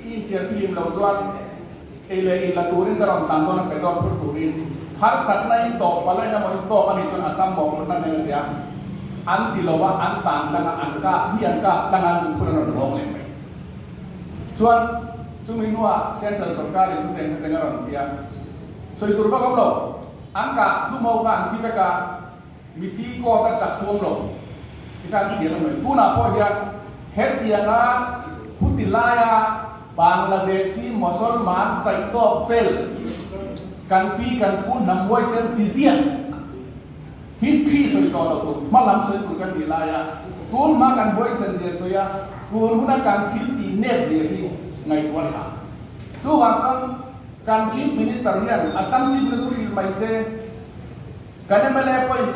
Ih thian filim lo chuan ei leh ih la turin ka rawn tlan dawn a petrol phur turin harsatna in tawh palai emaw in tawk a nih chuan a sam bawk lawrhna hmel a tia an ti lo va, an tlan tlang a, an kap hi an kap tlang a chu phur an rawn la awng leh mai chuan chumi hnua central sawrkar in chu tengtha teng a rawn tia sawi tur vak awm lo, an kah hlumo khan thi vek a. Mithi court a chak chuang lo te khan chian a nuai. Tunah pawh hian hetianga khuti laia Bangladeshi Mosolman chaih tawk fel kan pi kan pu hnam huaisem tizian history sawi tawh lo tuk hmalam sawi tur kan nih laia tun hma kan huaisen zia sawi a, tun huna kan thil tih net zia hi ngaihtuah tha. Chuvang chuan kan Chief Minister hian Assam Chief Minister chu hrilh mai se. Kan ema le pawhin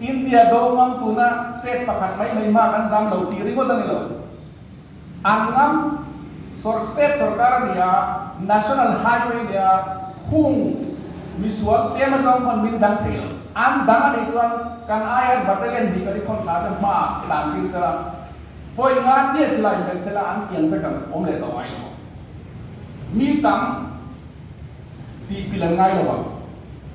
India do ngam tuna state pakhat mai mai hma kan zam lo tih ringawt a ni lo. An ngam sawr state sawrkar a nia, national highway a nia, khung misual tlema zawng pawh an min dang thei lo. An dang a nih chuan kan aia battalion hnih kan i thawn thla che hma ah tlan fir che la, pawi nga chiah si la inven che la an kiang vek ang, awm leh tawh ai maw? Mi tam tihpil an ngai lo ang.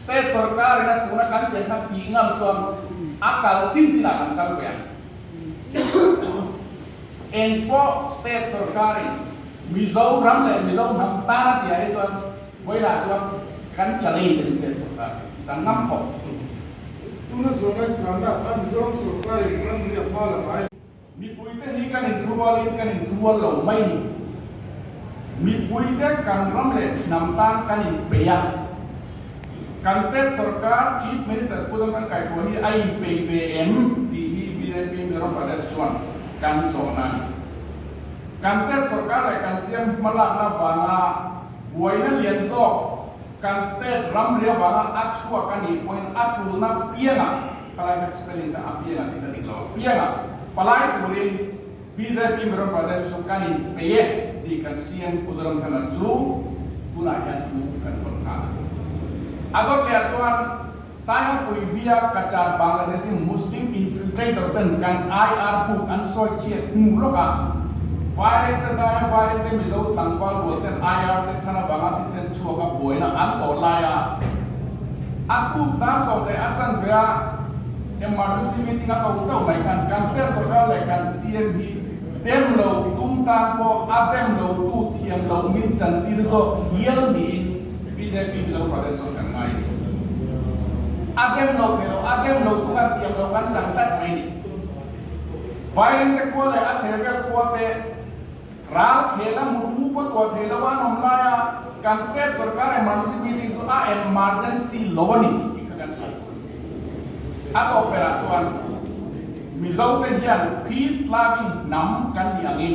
State sorkar in a tuna kan tel na pi ngam chuan a kal chin chin ah kan kal ve ang. Eng pawh state sorkar in Mizoram leh Mizo hnam tan a ti ah hi chuan vawi lah chuan kan challenge ang state sorkar hi kan ngam khawp. Tuna zual ngaihchhuah nak a Mizoram sorkar in ram riak hma lam ai. Mipuite hi kan inthurualin kan inthurual lo mai ni? Mipuite kan ram leh thinam tan kan inpei a? Kan state sorkar Chief Minister Pu Zamrangkaichua hi a inpei ve em? tih hi BJP Mizoram Pradesh chuan kan zawhna a ni. Kan state sorkar leh kan siam hmalakna vanga buaina lian zawk, Kan state ram riau vanga a chhuak a nih pawhin a tulna pianga, khalaia ka spelling kha a pianga tih ka dik lo, pianga palai turin bjp Miram Pradesh chu kan inpe e tih kan siam Khuzaram Thana chu tunah hian thu kan vawt nghal a. A dawt leh ah chuan. Simon Uivia, Qatar, Bangladesh in Muslim infiltrator ten kan IR puk an sawi chhiat hnu lawk a, vaireng te hnaia vaireng te Mizo tlangval rual ten IR te chhan avanga thisen chhuak a buaina an tawh lai a, a tuk dan sawmteh a chanve a, emergency meeting a to chauh mai khan kan state socal leh kan CM hi dem lo tum tan pawh a dem lo tu thiam lo min chantir zawk hial niin, Mi BJP hi lo ruah vel sawn kan ngai ni. A bem lo ve lo, a bem lo tuk an tiang lo kan sang tlat mai ni. Vairing te khua leh a chhe vel khua te ral khela mut mu pawh tuar thei lo an awm lai a, kan state sorkar emergency meeting chu a emergency lo a ni tih kha kan hriat phur ni. A tawkperh ah chuan Mizo te hian peace loving hnam kan ni angin,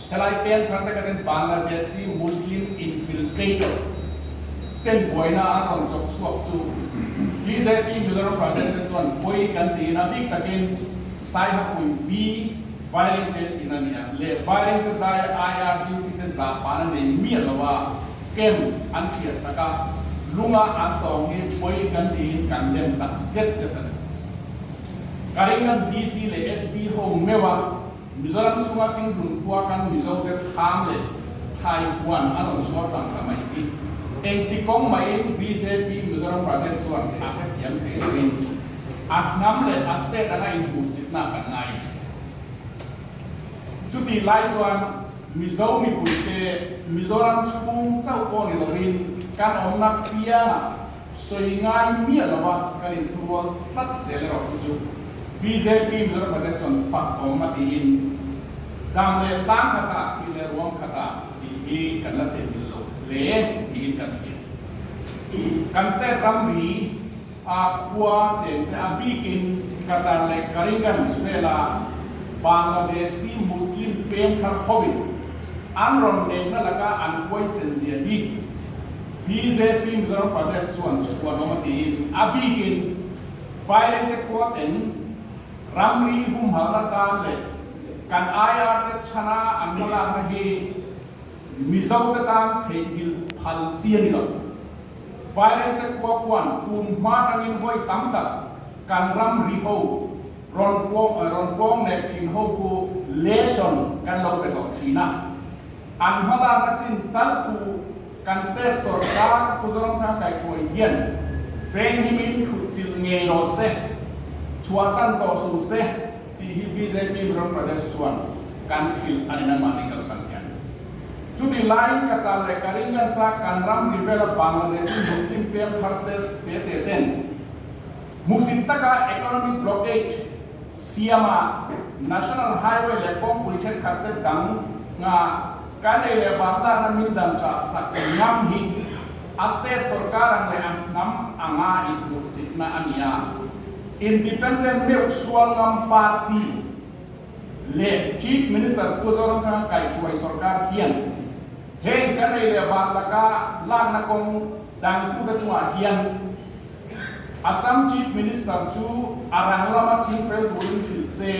Helai peng thar taka ten Bangladeshi Muslim infiltrator ten buaina an rawn chawp chhuak chu bjp Mizoram Pradesh te chuan pawi kan tiin a bik takin Saihapui vi Vaireng ten in a nia leh Vaireng te daia aia duty te zah pahna nei miah lo a camp an thiahsak a lunga an tawng hi pawi kan tiin kan lem tak zet zet a ni. Karimbnganj DC leh SP ho meuh a. Mizoram chhunga thinhlun khua kan Mizo te Tham leh Thai khuan a rawn sual sang ta mai hi engti kawng mahin bjp Mizoram Pradesh chuan a hrethiam thei lovin chu a hnam leh a state anga inpursitna kan ngai ve. Chutih lai chuan Mizo mipuite Mizoram chhung chauh pawh ni lovin kan awmna piangah, Sawi ngai miah lova kan inhmurual tlat zel erawh hi chu bjp Mularhmate chuan fak awm a tiin dam leh tlang khata, thil leh ruam khata tih hi kan la theihmil lo hle tiin kan hriat. Kan state ramri a khua chen te a bikin Qatar leh Karingan Sphela Bangladeshi Muslim peng thar hovin an rawn nekna laka an huaisen zia hi, BJP Mizoram Pradesh chuan chhuan awm a tiin a bik in Firing te kuat in ramri humhalna tan leh kan IR te chhana an la lakna hi Mizo te tan theihnghilh phal chian ni lo. Firing te kuat chuan pum hma tangin vawi tam tak kan ramri ho, rawn rawn pawng nek thin ho chu lesson kan lo pe tawh thin a, an hma lakna chin tal tu, Kan state sorkar Pu Zawngthar Kaichuai hian Feng hi min thut chilh ngei rawh se, chhuahsan tawh sung se tih hi bjp Mizo Pradesh chuan kan hrilh a ni mai mahni kal tak hian. Chutih laiin ka chal leh ka ring kan chak kan ram ri vela Bangladeshi Muslim pêl thar te te ten hmuhsit taka economic blockade, Siama, National Highway leh kawngpui thenkhat te dang nga kanei leh banlarna min dam cha sak ngam hi a state sorkar ang leh an hnam anga inhmuhsitna a ni a. Independent Meuh Sual Ngam Party leh Chief Minister Pu Zoramthanga kaihhruai sorkar hian heng kanei leh ban laka lakna kawng dangtu te chungah hian Assam Chief Minister chu a rang lama ching fel turin hrilh se.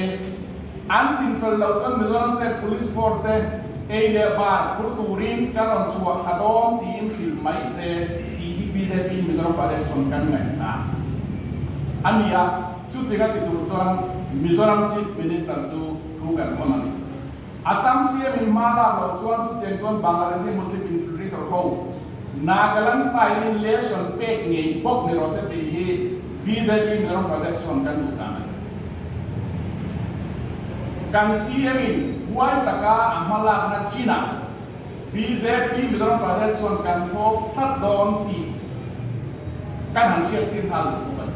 An ching fel lo chuan Mizoram State Police Force te ei leh bar phur turin ka rawn chhuah thla dawn tiin hrilh mai se tih hi bjp in Mizoram pa election kan ngaih hna a ni a, chutin a ti tur chuan Mizoram Chief Minister chu thu kan hawn a ni. Assam siam in hma lak lo chuan chutiang chuan Bangladeshi Muslim infiltrator ho Nagaland style in lesson pek ngei bawk ni rawhse tih hi bjp Mizoram Pradesh chuan kan duh dan a ni. Kan siam in huai taka a hma lakna chinah bjp Mizoram Pradesh chuan kan thlawp tlat dawn tih kan han hriat tirhal duh bawk a ni.